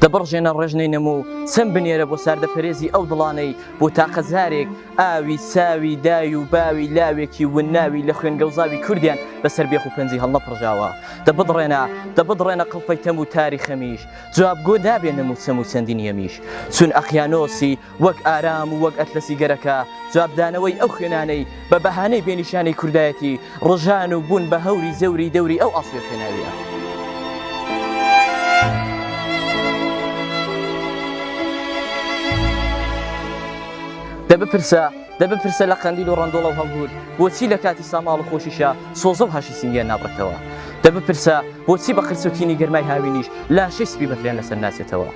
دە بڕژێنە ڕێژنەی نەموو چەند بنێرە بۆ ساردە پەرێزی ئەو دڵانەی بۆ تاقەزارێک ئاوی ساوی دای و باوی لاوێکی وناوی لە خوێن گەوزاوی کوردیان بەسەر بێخ و پەنجی هەڵنەپڕژاوە دە بڕێنە دە بڕێنە قڵپەی تەم و تاری خەمیش جوابگۆ دابێ نەموو چەم و چەندین یەمیش چون ئەقیانۆسی وەک ئارام و وەک ئەتلەسی گەرەکە، جوابدانەوەی ئەو خوێنانەی بە بەهانەی بێ نیشانەی کوردایەتی ڕژان و بوون بە هەوری زێوری دەوری ئەو ئاسۆیە خوێناوییە. دە بپرسە دە بپرسە لە قەندیل و ڕندۆڵە و هەڵگوت بۆچی لە کاتی ساماڵ و خۆشیشە سۆزە و هاشی سنگیان نابڕێتەوە دە بپرسە بۆچی بە قرسوتینی گەرمای هاوینیش لاشەی سپی بەفریان لەسەر ناچێتەوە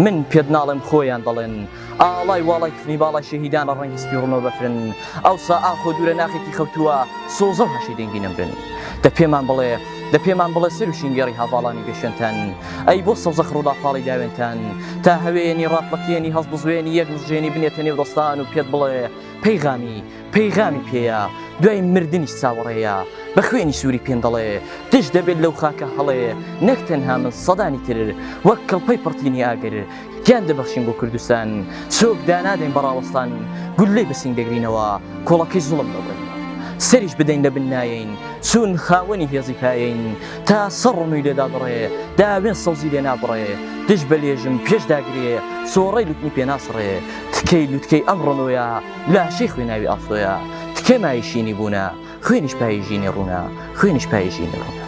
من پێت ناڵێم خۆیان دەڵێن ئاڵای واڵای کفنی باڵای شەهیدان لە ڕەنگی سپی ڕوونەوە بەفرن ئەوسا ئاخۆ دوورە ناخێکی خەوتووە سۆزە و هەشی دەنگی نەمرن دە پێمان بڵێ دە پێمان بڵێ سەر و شینگێڕی هاڤاڵانی بێشێنتان ئەی بۆ سەوزە خڕوڵا پاڵی داوێنتان تا هەوێنی ڕاپڵەکێنی هەڵبزوێنی یەک مژێنی بنێتە نێو دەستان و پێت بڵێ پەیغامی پەیغامی پێیە دوای مردنیش چاوەڕێیە بە خوێنی سووری پێن دەڵێ دژ دەبێت لەو خاکە هەڵێ نەک تەنها من سەدانی تر وەک کڵپەی پڕتینی ئاگر گیان دەبەخشین بۆ کوردستان سۆک دانادەین بەڕاوەستان گولەی بەسنگ دەگرینەوە کۆڵەکەی زوڵم دەبن سەریش بدەین لە بن نایەین چون خاوەنی هێزی پایین تا سەر ڕوونی لێدا بڕێ داوێن سەوزی لێ نابڕێ دژ بە لێژم پێش داگرێ سۆڕەی لوتنی پێناسڕێ تکەی لوتکەی ئەم ڕۆنۆیە لاشەی خوێناوی ئاسۆیە تکێ مای شینی بوونە خوێنیش پای ژینی ڕوونە خوێنیش پای ژینی ڕوونە